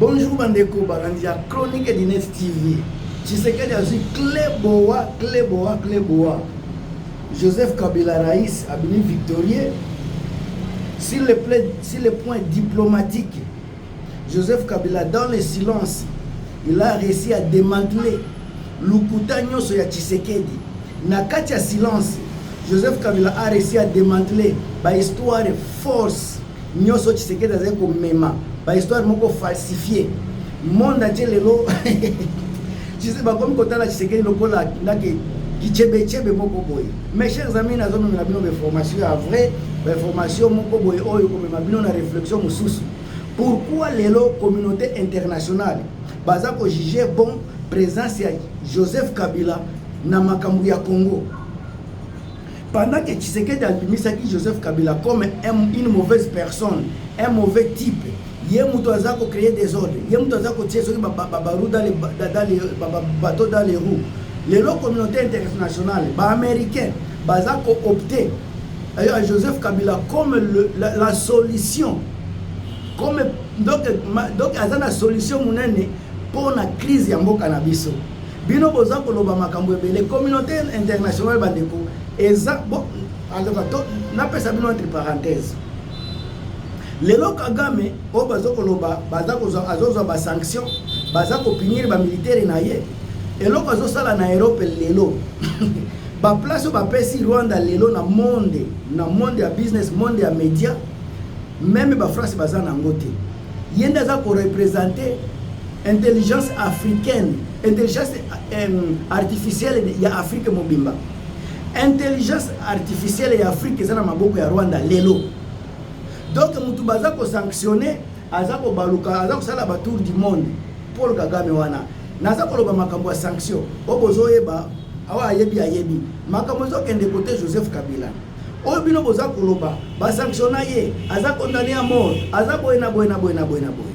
Bonjour bandeko balandi ya Chronique Dines TV. Tshisekedi azwi cle boa cle boa cle boa. Joseph Kabila Rais abimi victorieux sur le, plan, sur le point diplomatique. Joseph Kabila dans le silence, il a réussi à démanteler lokuta nyonso ya Tshisekedi. Na kati ya silence, Joseph Kabila a réussi à démanteler ba histoire force nioso tshisekedi azali komema bahistoire moko falsifie monde atie lelo bakomi kotala tshisekedi lokola ndake kichebechebe moko boye mes chers amis nazomemela bino bainformation ya vrai bainformation moko boye oyo komema bino na réflexion mosusu pourquoi lelo communauté internationale baza kojuge bon présence ya joseph kabila na makambo ya congo Pendant que Tshisekedi abimisaki Joseph Kabila comme une mauvaise personne, un mauvais type, ye mutu aza ko créer des ordres, ye mutu aza ko tirer soki ba bateaux dans les bateaux dans les roues. Lelo communauté internationale, ba américains baza ko opter à Joseph Kabila comme le, la, la solution comme donc donc aza na solution munene pour la crise ya mboka na biso. Bino boza koloba makambo ebele communauté internationale bandeko eza bo alaka to napesa bino entre parenthèse lelo kagame oyo baza koloba baza kozwa azozwa basanction baza kopinire bamiliteri na ye eloko azosala na europe lelo baplace oyo bapesi rwanda lelo na monde na monde ya business monde ya média meme bafrance baza na yango te ye nde aza korepresente Intelligence africaine, intelligence eh, artificielle ya Afrique mobimba. Intelligence artificielle ya Afrique eza na maboko ya Rwanda lelo. Donc mutu baza ko sanctionner aza ko baluka aza kosala ba tour du monde Paul Kagame wana naza koloba makambo ya sanction oyo bozoyeba awa ayebi ayebi makambo ezokende kote joseph kabila oyo bino boza koloba basanctiona ye aza kondane ya mort aza boye na boye na boye na boye na boye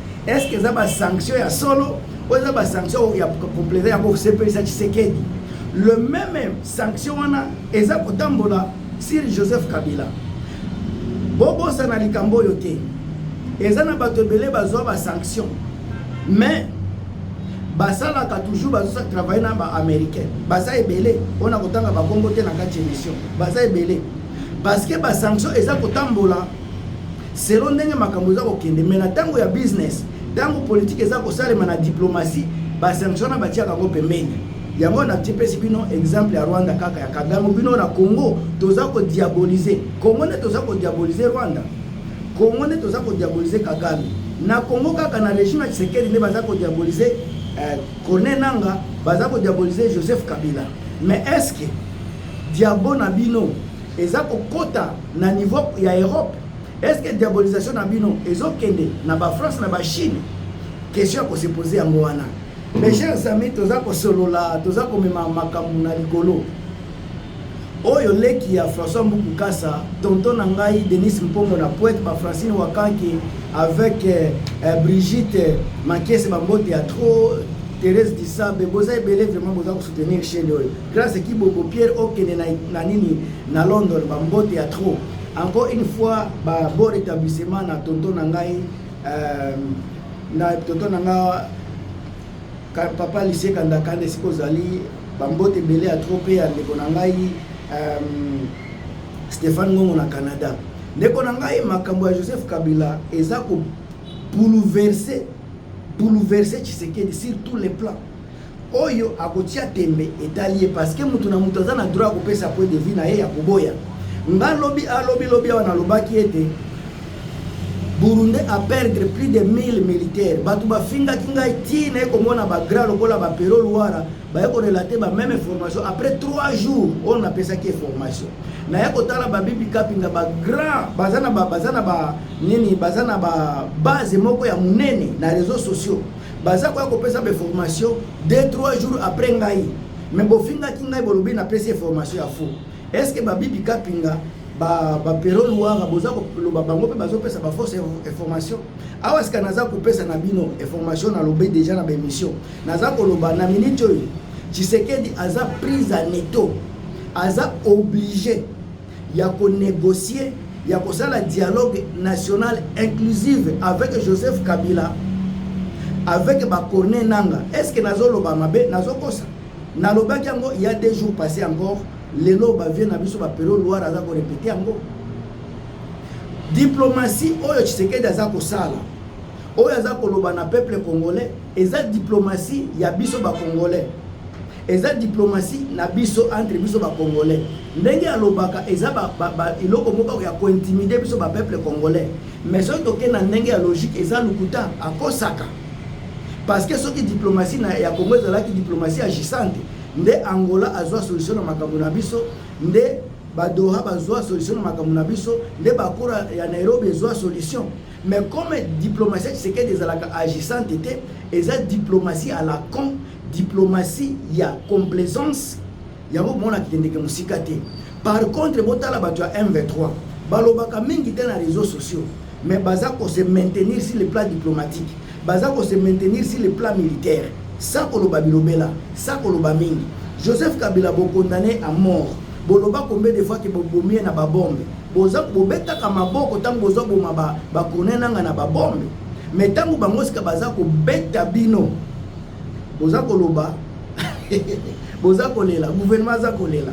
Est-ce que eza ba sanctions ya solo ou eza ba sanctions ya complaisant ya ko sepelisa Tshisekedi? Le même sanction wana eza kotambola sur Joseph Kabila. Bobosana likambo oyo te. Eza na bato ebele bazwa ba sanctions. Mais basalaka toujours bazosa travaille na ba américain baza ebele mpona kotanga bakombo te na kati ya émission baza ebele parce que ba sanction eza kotambola Selon ndenge makambo eza kokende mais na tango ya business, tango politique eza kosalema na diplomatie, ba sanctions na batiaka yango pembeni. Yango na tipesi bino exemple ya Rwanda kaka ya Kagame, bino na Congo toza ko diaboliser Congo nde toza ko diaboliser Rwanda, Congo nde toza ko diaboliser Kagame. Na Congo kaka na regime ya Tshisekedi nde baza ko diaboliser eh, Corneille Nanga, baza ko diaboliser Joseph Kabila. Mais est-ce que diabo na bino Eza ko kota na niveau ya Europe. Est-ce que diabolisation na bino ezo kende na ba France na ba Chine? Question ya ko se poser yango wana. Mes chers amis, toza ko solola, toza ko mema makambo na likolo. Oyo leki ya François Mbuku Kasa, tonton na ngai Denis Mpongo na poète ba Francine Wakanke avec euh, euh, Brigitte Makiese ba mbote ya trop Thérèse Disabe, boza ebele vraiment boza ko soutenir chaîne oyo. Grace Kiboko Pierre okende na, na nini na London ba mbote ya trop. Encore une fois ba bon rétablissement na tonton na ngai euh, na tonton na nga ka, papa lycée kanda kande siko zali ba mbote belé ya trop pe ya ndeko na ngai euh, Stéphane Ngongo na Canada. Ndeko na ngai makambo ya Joseph Kabila eza ko bouleverser bouleverser Tshisekedi sur tous les plans. oyo akotia tembe etali ye parce que moto na moto aza na droit ya kopesa point de vue na ye ya koboya nga lobi alobi ah, lobi awa nalobaki ete burundais a perdre plus de 1000 militaires bato bafingaki ngai ti naye komona bagra lokola bapero luara baye korelate bameme formation après 3 jours oyo napesaki ye formation naye kotala babibi kapinga bagrand baza na baza na ba nini baza na babase moko ya monene na réseau sociaux baza koya kopesa ba information 2 3 jours après ngai me bofingaki ngai bolobi napesi information ya faux est ce que babibi kapinga bapero ba luwara boza koloba bango mpe bazopesa bafausse information awa sika naza kopesa na bino information nalobi deja na baémission naza koloba na minute oyo tshisekedi aza prise en eto aza oblige ya ko negocier ya kosala dialogue national inclusive avec Joseph Kabila avec ba corne nanga est-ce que nazoloba mabe nazokosa nalobaki yango il y a deux jours passé encore lelo bavie na biso bapelo loire aza korepete yango diplomatie oyo tshisekedi aza kosala oyo aza koloba na peuple congolais eza diplomatie ya biso bacongolais Eza diplomatie na biso entre biso ba congolais. Ndenge alobaka eza ba, ba, ba iloko moko ya ko intimider biso ba peuple congolais. Mais soki toke na ndenge ya logique eza lukuta akosaka. Parce que soki diplomatie na ya Congo ezalaki diplomatie agissante nde Angola azwa solution na makambo na biso nde ba Doha bazwa solution na makambo na biso nde bakura ya Nairobi ezwa solution Mais comme diplomatie ya Tshisekedi ezalaka agissante te, eza diplomatie à la con, diplomatie ya complaisance, yango komona akendeke mosika te. Par contre, botala bato ya M23, balobaka mingi te na réseaux sociaux, mais baza ko se maintenir sur le plan diplomatique, baza ko se maintenir sur le plan militaire, sa koloba bilobela, sa koloba mingi. Joseph Kabila bokondane à mort, boloba combien de fois ke bobomi ye na babombe, Boza bobetaka maboko tango bozo boma ba ba kone nanga na ba bombe. Mais tango bango sika baza kobeta bino. Boza koloba boza kolela gouvernement aza kolela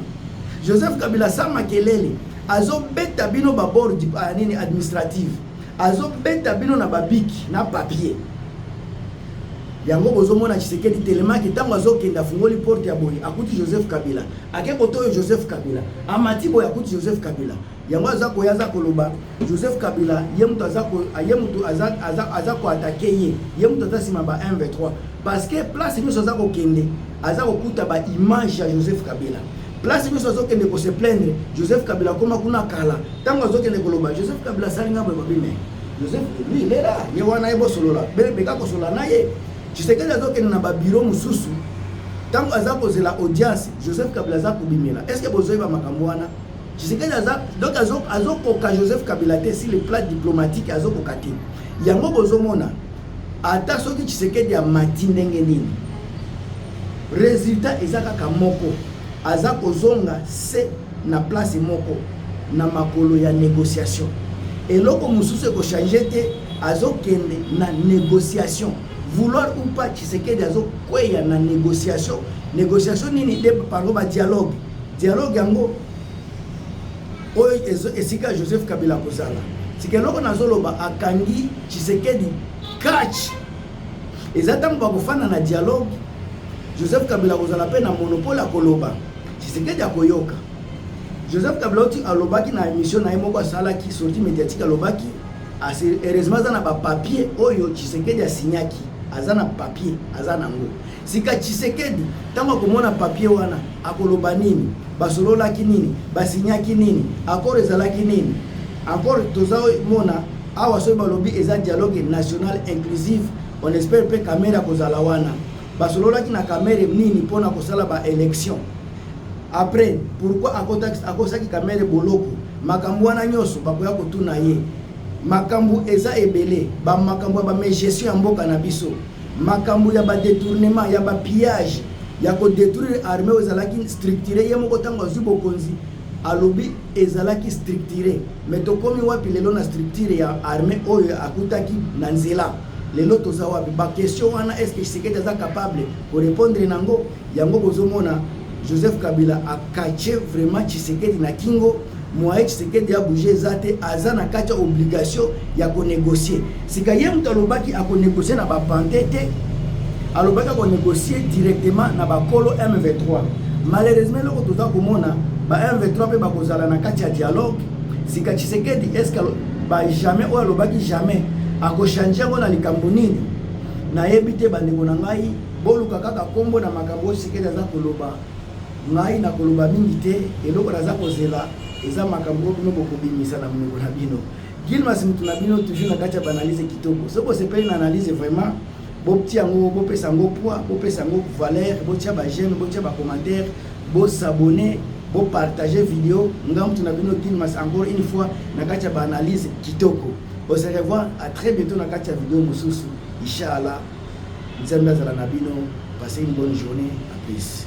joseph kabila sa makelele azobeta bino babord ah, nini administrative azobeta bino na babiki na papier Yango bozo mona Tshisekedi telemaki tango azo kende afungoli porte ya boye akuti Joseph Kabila ake kotoyo Joseph Kabila amati boye akuti Joseph Kabila yango aza koya aza koloba Joseph Kabila ye mutu aza ko ye mutu aza aza aza ko attaquer ye ye mutu aza sima ba 1 23 parce que place nyoso aza kokende aza kokuta ba image ya Joseph Kabila place nyoso azo kende ko se plaindre Joseph Kabila koma kuna kala tango azo kende koloba Joseph Kabila salinga boye babime Joseph lui il est là, ye wana ye bosolola, beka kosolola na ye. Tshisekedi azokende na babiro mosusu ntango aza kozela audience Joseph Kabila aza kobimela. Est-ce que bozoyeba makambo wana? Tshisekedi aza donc azokoka Joseph Kabila te si le plat diplomatique azokoka te. Yango bozomona ata soki Tshisekedi amati ndenge nini, resultat eza kaka moko, aza kozonga se na place moko na makolo ya negociation eloko mosusu ekochange te azokende na negociation vouloir ou pas tshisekedi azokweya na negociation negociation nini de parlo ba dialogue dialogue yango oyo esika joseph kabila akozala sika eloko nazoloba akangi tshisekedi catch eza ntango bakofanda na dialogue joseph kabila akozala mpe na monopole akoloba Tshisekedi akoyoka. Joseph Kablauti alobaki na emission na ye moko asalaki sortie médiatique alobaki ase heureusement aza na ba papier oyo Tshisekedi asignaki aza na papier aza nango sika Tshisekedi ntango akomona papier wana akoloba nini basololaki nini basignaki nini accord ezalaki nini encore toza mona awa soki balobi eza dialogue national inclusive on espère mpe kamere akozala wana Basololaki na Kamere nini mpo na kosala ba election? Après pourquoi akosaki Kamere boloko? Makambo wana nyonso bakoya kotuna ye. Makambo eza ebele, ba makambo ya ba gestion ya mboka na biso, makambo ya ba detournement ya ba pillage ya ko détruire armée oyo ezalaki structuré ye moko ntango azwi bokonzi alobi ezalaki structuré mais tokomi wapi lelo na structure ya armée oyo akutaki na nzela lelo toza wapi ba question wana est ce que Tshisekedi aza capable ko répondre nango yango bozomona Joseph Kabila a cache vraiment Tshisekedi na kingo moye Tshisekedi ya bouge eza te aza na kati ya obligation ya ko négocier sika ye moto alobaki ako négocier na ba pante te alobaki ako négocier directement na bakolo M23 malheureusement eloko toza komona ba M23 mpe bakozala na kati ya dialogue sika tshisekedi eske ba jamais oyo alobaki jamais akochange yango na likambo nini nayebi te bandeko na ngai boluka kaka nkombo na makambo oyo tshisekedi aza koloba ngai nakoloba mingi te eloko naza kozela eza makambo oyo bino bokobimisa na monoko na bino gilmas motu na bino toujours na kati ya baanalyse kitoko soki bosepeli na analyse vraiment botia yango bopesa yango poids bopesa yango valeur botia bagene botia bacommentaire Bo s'abonner, bo partager video, nga mutu na bino Guilmas encore une fois na kati ya ba analyse kitoko. On se revoit à très bientôt na kati ya video mosusu. Inshallah. Nzambe azala na bino. Passez une bonne journée. À plus.